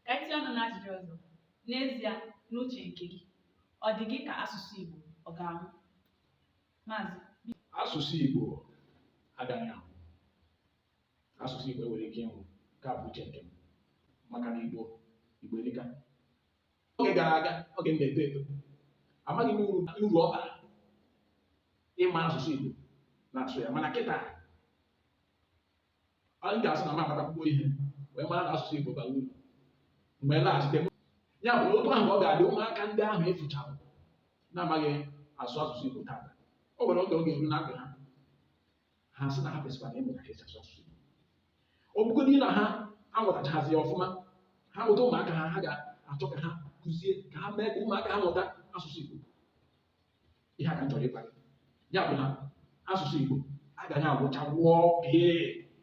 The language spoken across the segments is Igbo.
ka anyị tinye ọnụ n'ajụjụ ọzọ n'ezie n'uche nke gị ọ dị gị ka asụsụ Igbo ọ ga-anwụ maazị asụsụ Igbo agaghị anwụ asụsụ Igbo enweghị ike ịnwụ nke a bụ uche nke m maka na Igbo Igbo erika oge gara aga oge m na-eto eto amaghị m uru ọ bara ịma asụsụ Igbo na-asụ ya mana kịta anyị ga-asị na m amatakwuo ihe wee mara na asụsụ Igbo bara uru m wee laghachite ya bụ na otu ahụ ọ ga-adị ụmụaka ndị ahụ efuchara na-amaghị asụ asụsụ Igbo taata o nwere oge ọ ga-eru na ndụ ha ha sị na ha kwesịkwara ịmụta ka esi asụ asụsụ Igbo ọ bụgodị na ha amụtachazi ya ọfụma ha mụta ụmụaka ha ha ga-achọ ka ha kụzie ka ha mee ka ụmụaka ha mụta asụsụ Igbo ihe a ka m chọrọ ịgwa gị ya bụ na asụsụ Igbo agaghị anwụcha nwụọ pii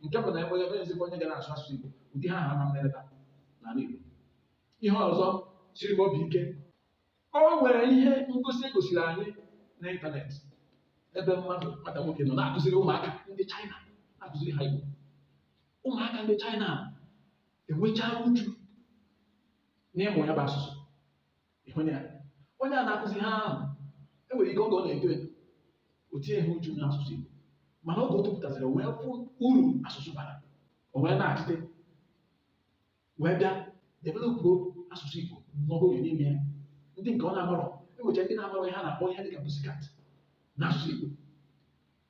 nke bụ na enweghịzikwa onye ga na-asụ asụsụ Igbo ụdị ihe ahụ ama mmerịta n'ala Igbo ihe ọzọ siri m obi ike o nwere ihe ngosi e gosiri anyị n'ịntanetị ebe mmadụ nwata nwoke nọ na-akụziri ụmụaka ndị China na-akụziri ha Igbo ụmụaka ndị China enwechaa uchu n'ịmụ ya bụ asụsụ ịhụnye ya onye a na-akụzi ha ahụ enwere ike oge ọ na-eto eto o tinyeghị uchu n'asụsụ Igbo mana oge o topụtaziri o wee fụ uru asụsụ bara o wee naghachite wee bịa developụ asụsụ Igbo n'ọhụrụ n'ime ya ndị nke ọ na-amarọ enwecha ndị na-amarọ ihe a na-akpọ ihe dịka pussycat n'asụsụ Igbo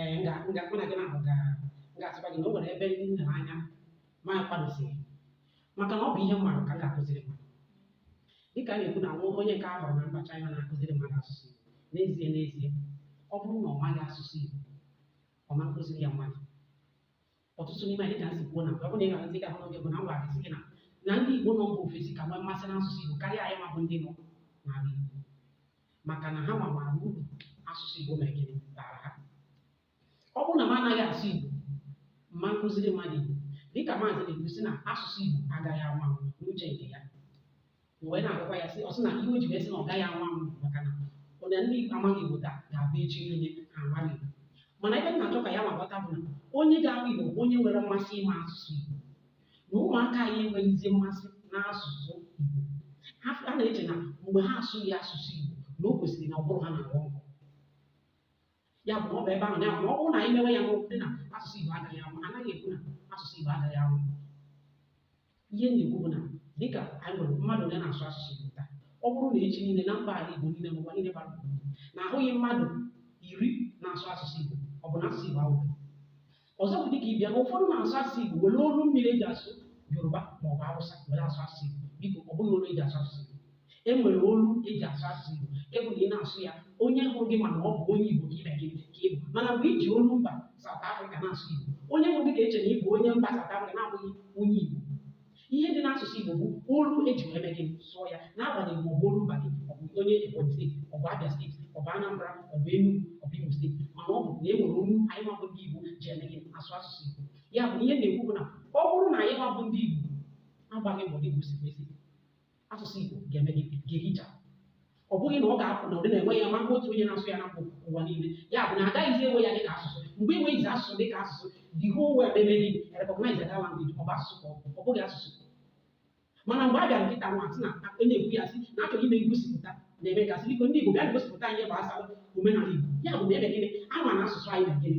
ee nga nga mụ na gị na-ahụ ga m ga-asịkwa gị na o nwere ebe ndị m lere anya ma akwadozighị maka na ọ bụ ihe m maara ka m ga-akụziri mmadụ dịka a na-ekwu na nwa onye nke a hụrụ na mba China na-akụziri mmadụ asụsụ Igbo n'ezie n'ezie ọ bụrụ na ọ maghị asụsụ Igbo ọ ma nkụziri ya mmadụ ọtụtụ n'ime anyị dịka m si kwuo na ọ bụrụ na ị ga-ahụzi ga-ahụ n'oge mbụ na m gwara gị na na ndị Igbo nọ mba ofesi ka nwee mmasị n'asụsụ Igbo karịa anyị nwa bụ ndị nọ n'ala Igbo maka na ha ma maara uru asụsụ Igbo mere gịnị bara ha ọ bụrụ na m anaghị asụ Igbo m ma nkụziri mmadụ Igbo dịka maazị na-ekwu sị na asụsụ Igbo agaghị anwụ anwụ n'uche nke ya m wee na-agwakwa ya sị ọ sị na ihe o ji wee sị na ọ gaghị anwụ anwụ maka na onye ndị amaghị Igbo taa ga-abụ echi niile ha amara Igbo mana ebe m na-achọ ka ya nwa ghọta bụ na onye ga-amụ Igbo bụ onye nwere mmasị ịma asụsụ Igbo na ụmụaka anyị enweghịzi mmasị n'asụsụ Igbo ha ha na-eche na mgbe ha asụghị asụsụ Igbo na o kwesịrị na ọ bụrụ ha na-aghọ nkọ ya bụ ọ bụ ebe ahụ ya bụ ọ bụrụ na anyị mewe ya n'okwu dị na asụsụ Igbo agaghị anwụ anaghị ekwu na asụsụ Igbo agaghị anwụ ihe a na-ekwu bụ na dịka anyị nwere mmadụ onye na-asụ asụsụ Igbo taa ọ bụrụ na echi niile na mba ala Igbo niile n'ụwa niile gbaa na ahụghị mmadụ iri na-asụ asụsụ Igbo ọ bụ na asụsụ Igbo ahụ ọzọ bụ dịka ịbịa na ụfọdụ na-asụ asụsụ Igbo were olu mmiri eji asụ Yoruba ma ọ bụ Hausa were asụ asụsụ Igbo biko ọ bụghị olu eji asụ asụsụ Igbo e nwere olu eji asụ asụsụ Igbo nke bụ na ị na-asụ ya onye hụrụ gị ma na ọ bụ onye Igbo ka ị mee gịnị ka ị bụ mana mgbe i ji olu mba South Africa na-asụ Igbo onye hụrụ gị ga-eche na ị bụ onye mba South Africa na-abụghị onye Igbo ihe dị n'asụsụ Igbo bụ olu eji wee mee gịnị sụọ ya n'agbanyeghị ma ọ bụ olu mba gị ọ bụ onye Ebonyi steeti ọ bụ Abia steeti ọ bụ Anambra ọ bụ Enugu ọ bụ Imo steeti mana ọ bụ na e nwere olu anyịnwa bụ ndị Igbo ji eme gịnị asụ asụsụ Igbo ya bụ ihe m na-ekwu bụ na ọ bụrụ na anyịnwa bụ ndị Igbo agbaghị mbọ dị ka o si kwesị asụsụ Igbo ga-eme gịnị ga-ehicha ọ bụghị na ọ ga-abụ na ụdị na-enwe ya ma mgbe otu onye na-asụ ya na ụwa niile ya bụ na agaghịzi enwe ya dị ka asụsụ mgbe enweghịzi asụsụ dị ka asụsụ the whole world eme gịnị recognize that language ọ bụ asụsụ ka ọ bụghị asụsụ mana mgbe a bịara kịta nwa sị na onye ekwu ya sị na achọrọ ime ngosipụta na America sịrị ndị Igbo bịa gosipụta ihe gbasara omenala Igbo ya bụ na eme gịnị ama na asụsụ anyị na gịnị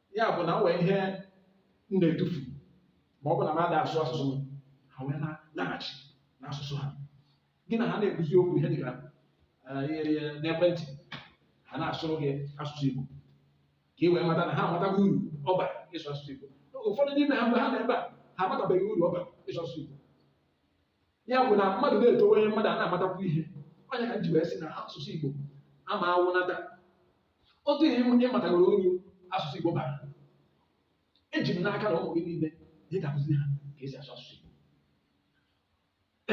ya bụ na o nwere ihe m na-etufu ma ọ bụ na m ada asụ asụsụ m ha wee na-laghachi n'asụsụ ha gị na ha na-ekwuzi okwu ihe dịka n'ekwentị ha na-asụrụ gị asụsụ Igbo ka ị wee mata na ha amatago uru ọ bara ịsụ asụsụ Igbo ụfọdụ n'ime ha mgbe ha nọ ebe a ha amatabeghị uru ọ bara ịsụ asụsụ Igbo ya bụ na mmadụ na-etowanye mmadụ ana-amatakwu ihe ọ nya ka m ji wee sị na asụsụ Igbo ama anwụnata otu ihe ị matagoro uru asụsụ Igbo bara eji m n'aka na ụmụ gị niile ị ga-akụzi ha ka esi asụ asụsụ Igbo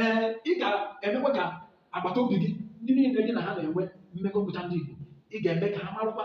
ee ị ga-emekwa ka agbata obi gị ndị niile gị na ha na-enwe mmekọ bụcha ndị Igbo ị ga-eme ka ha marụkwa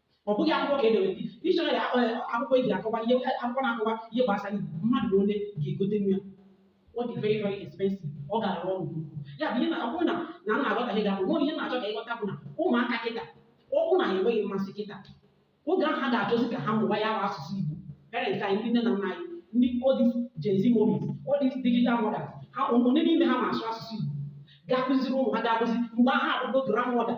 ọ bụghị akwụkwọ ka edere dictionary akwụkwọ eji akọwa ihe akwụkwọ na-akọwa ihe gbasara Igbo mmadụ ole ga-egotenwu ya ọ dị very very expensive ọ gara ọnụ ya bụ ihe na ọ bụrụ na na m na-aghọta ihe ga-abụ nwere ihe m na-achọ ka ị ghọta bụ na ụmụaka kịta ọ bụ na ha enweghị mmasị kịta oge ahụ ha ga-achọzi ka ha mụwa ya bụ asụsụ Igbo parents anyị ndị nne na nna anyị ndị all these Gen Z mummies all these digital mothers ha ole n'ime ha ma asụ asụsụ Igbo ga-akụziri ụmụ ha ga-akụzi mgbe ha abụgo grandmother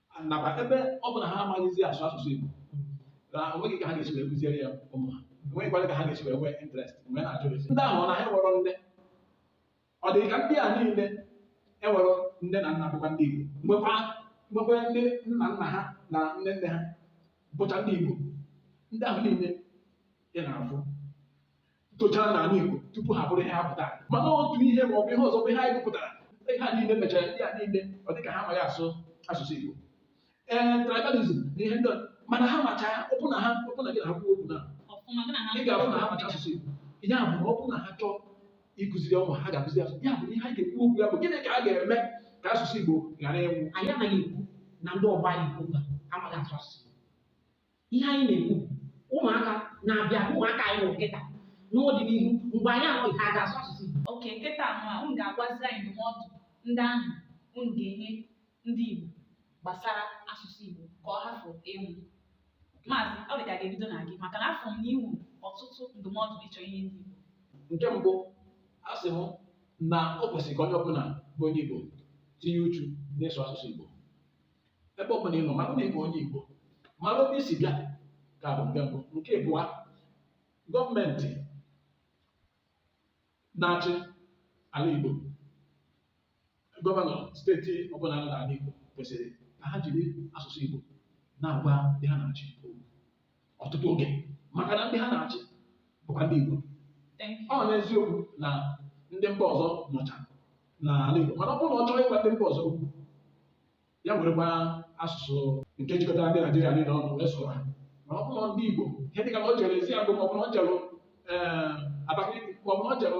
nakwa ebe ọ bụ na ha amaghịzi asụ asụsụ Igbo na onweghị ka ha ga-esi wee kụziere ya ụmụ ha enweghịkwara ka ha ga-esi wee nwee interest mgbe a na-ajụ sị ndị ahụ ọ na ha enwerọ nne ọ dị ka ndị a niile enwerọ nne na nna bụkwa ndị Igbo nwekwa nwekwa ndị nna nna ha na nne nne ha bụcha ndị Igbo ndị ahụ niile ị na-afụ tochara n'ala Igbo tupu ha bụrụ ihe ha bụ taa mana otu ihe ma ọ bụ ihe ọzọ bụ ihe anyị gụpụtara ihe a niile mechara ndị a niile ọ dị ka ha amaghị asụ asụsụ Igbo ee tribalism na ihe ndị ọzọ. mana ha macha ya ọ bụ na ha ọ bụ na gị na ha kwuo okwu na ọfụma gị na ha ị ga-afụ na ha macha asụsụ Igbo ihe a bụ na ọ bụ na ha chọọ ịkụziri ụmụ ha ga-akụzi asụsụ ya bụ ihe anyị ga-ekwu okwu ya bụ gịnị ka a ga-eme ka asụsụ Igbo ghara ịnwụ anyị anaghị ekwu na ndị ọgbọ anyị ugbu a amaghị asụ asụsụ ihe anyị na-ekwu ụmụaka na-abịa ụmụaka anyị nwere kịta n'ọdịnihu mgbe anyị anọghị ha ga-asụ asụsụ Igbo okay kịta nwa unu ga-agwazi anyị ndụmọdụ ndị ahụ unu ga-enye ndị Igbo gbasara asụsụ Igbo ka ọ hafụ ịnwụ maazị ọ dị ka a ga-ebido na gị maka na afụ m na i nwe ọtụtụ ndụmọdụ ị chọ inye ndị Igbo nke mbụ a sị m na o kwesịrị ka onye ọbụla bụ onye Igbo tinye uchu n'ịsụ asụsụ Igbo ebe ọ bụla ị nọ mara na ị bụ onye Igbo mara ebe i si bịa nke a bụ nke mbụ nke abụọ gọọmenti na-achị ala Igbo gọvanọ steeti ọbụla nọ n'ala Igbo kwesịrị ka ha jiri asụsụ Igbo na-agwa ndị ha na-achị okwu ọtụtụ oge maka na ndị ha na-achị bụkwa ndị Igbo ọ n'eziokwu na ndị mba ọzọ nọcha n'ala Igbo mana ọ bụrụ na ọ chọrọ ịgwa ndị mba ọzọ okwu ya werekwa asụsụ nke jikọtara ndị Naijiria niile ọnụ wee sụrụ ha mana ọ bụrụ na ndị Igbo ihe dịka na o jere Eziagụ maọbụ na o jere eh, Abakaliki maọbụ na o jere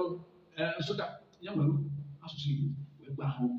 eh, Nsụka ya were asụsụ Igbo wee gwa ha okwu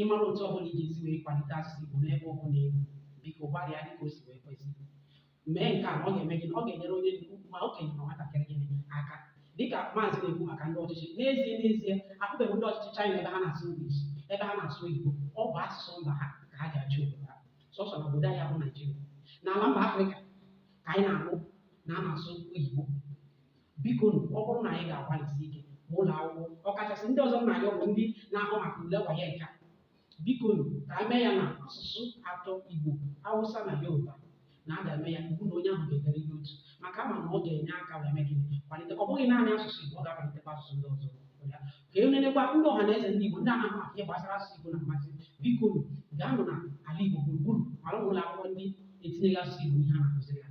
ị mara otu ọ bụla ị ga-esi wee kwalite asụsụ Igbo n'ebe ọ bụla ị nọ biko gbalịa dịka o si wee kwesị mee nke a na ọ ga-eme gịnị ọ ga-enyere onye ma okenye ma nwatakịrị gịnị aka dịka maazị na-ekwu maka ndị ọchịchị n'ezie n'ezie ahụbeghị ndị ọchịchị China ebe ha na-asụ English ebe ha na-asụ Igbo ọ bụ asụsụ mba ha ka ha ji achị obodo ha sọsọ na obodo anyị bụ Naijiria n'ala mba Afrịka ka anyị na-anụ na a na-asụ oyibo biko nụ ọ bụrụ na anyị ga-agbalịsi ike ma ụlọ akwụkwọ ọkachasị ndị ọzọ na ya bụ ndị na-ahụ maka ule WAEC biko nụ ka a mee ya na asụsụ atọ igbo awụsa na yoruba na a ga-eme ya iwu na onye ahụ ga-ederịrị otu maka ama na ọ ga-enye aka wee mee gịnị kwalite ọ bụghị naanị asụsụ igbo ọ ga-akwalitekwa asụsụ ndị ọzọ ya ka e nenekwa ndị ọha na eze ndị igbo ndị na-ahụ maka ihe gbasara asụsụ igbo na mmasị biko nụ gaanụ na ala igbo gburugburu mara ụlọ akwụkwọ ndị etinyeghị asụsụ igbo ihe a na-akụziri ha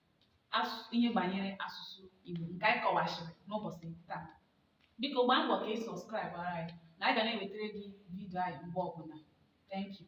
ihe banyere asụsụ Igbo nke anyị kọwachiri n'ụbọchị taa biko gbaa mbọ ka ị subscribe ara anyị na anyị ga na-ewetara gị vidio anyị mgbe ọbụla thank you